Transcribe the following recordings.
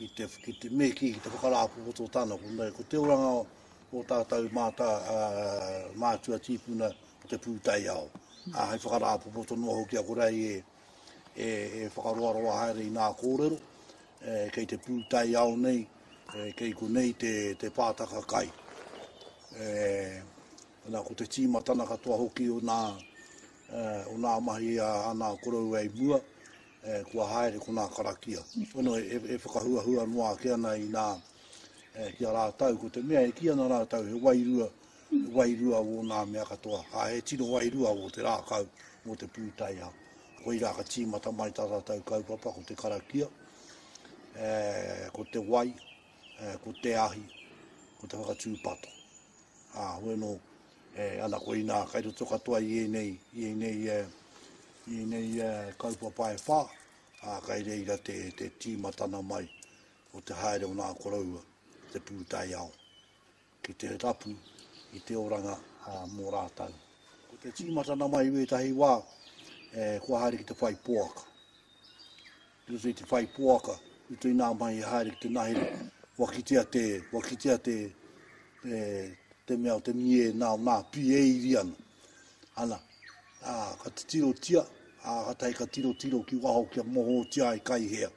ki te, ki te me ki, ki te whakarāpopoto tana, ko, me, ko te oranga o, o tātou mātā uh, mātua tīpuna ki te pūtai ao. Mm. Uh, hai whakarāpopoto noa hoki a korei e, e, e whakaroaroa haere i nā kōrero, e, kei te pūtai ao nei, e, kei ko nei te, te pātaka kai. E, na, ko te tīmatana katoa hoki o nā, e, o nā mahi a, a nā korou e mua, e, kua haere konā karakia. Pono e, e whakahuahua noa ake ana i nā, e, ki a rātau, ko te mea e ki ana rātau he wairua, he wairua wō nā mea katoa, a he tino wairua wō te rākau, wō te pūtaiha. Koi rā ka tīmata mai tā rātau kaupapa ko te karakia, e, ko te wai, e, ko te ahi, ko te whakatūpato. A, hoeno, E ana koinā kai roto katoa i ēnei, i ēnei, i ēnei kaupapa e whā, ā, kai reira te, te tīmatana mai o te haere o nā koroua ki te pūtaiao, ki te rapu i te oranga ā, mō rātou. Ko te tīmatana mai i wētahi wā, e, kua haere ki te whai poaka. I roto i te whai poaka, i roto inā mahi e haere ki te nahere, kua kitea te, kua kitea te, e, te mea o te mie nā, nā, pi e iri ana. Ana, ā, ka titirotia, ā, ka tahi ka tirotiro ki waho kia mohōtia ai kai hea.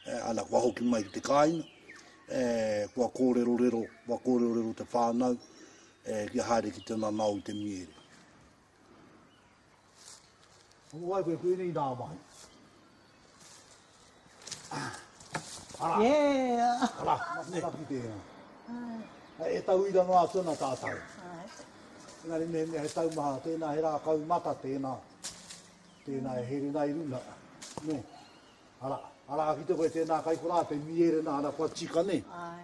E, ana, kua hoki mai ki te kāinga, e, kua kōrerorero, kua kōrerorero te whānau, e, kia haere ki te nanao i te miere. Hoko ai koe kuini i nā mahi. Ara. Yeah. Ara, maki maki tēnā. Ai. E tauira noa atu ana tātou. Ai. Engari me mea he taumaha, tēnā he rākau mata, tēnā. Tēnā e here nai runa. Ne. Ara, ara ki te koe tēnā kai korā te mierena ana kua tika ne. Ai.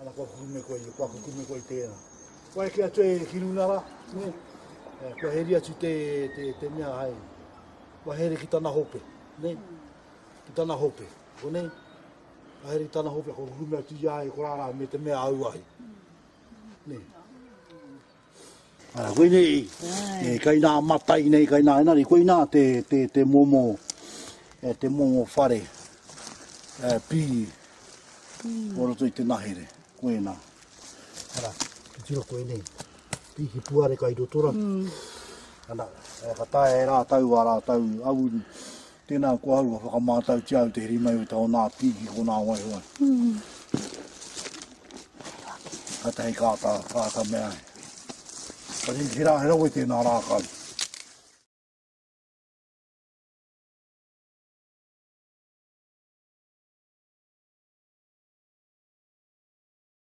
Ana kua kukume koe ia, kua kukume koe i tēnā. Kua eke atu e Kirunara, ne? Eh, kua heri atu te, te, te mea hai. Kua here ki tana hope, ne? Ki tana hope, ko nei? Kua here ki tana hope, kua kukume atu ia e korara me te mea auahi. Ne? Ah, koe nei, e, kai nā matai nei, kai nā enari, koe nā te, te, te momo, e, te momo whare, e, pī, mm. o roto i te nahere, koe nā. Ara, ki tiro koe nei, pī ki puare kai rotora, mm. ana, e, ka tae e rātau a rātau awuru, Tēnā koa au ka whakamātautia au te heri mai o taonā pī ki konā waiho ai. Kātahi ka āta, ka āta mea ai. Ka ringi he rā, he rawe tēnā rākau.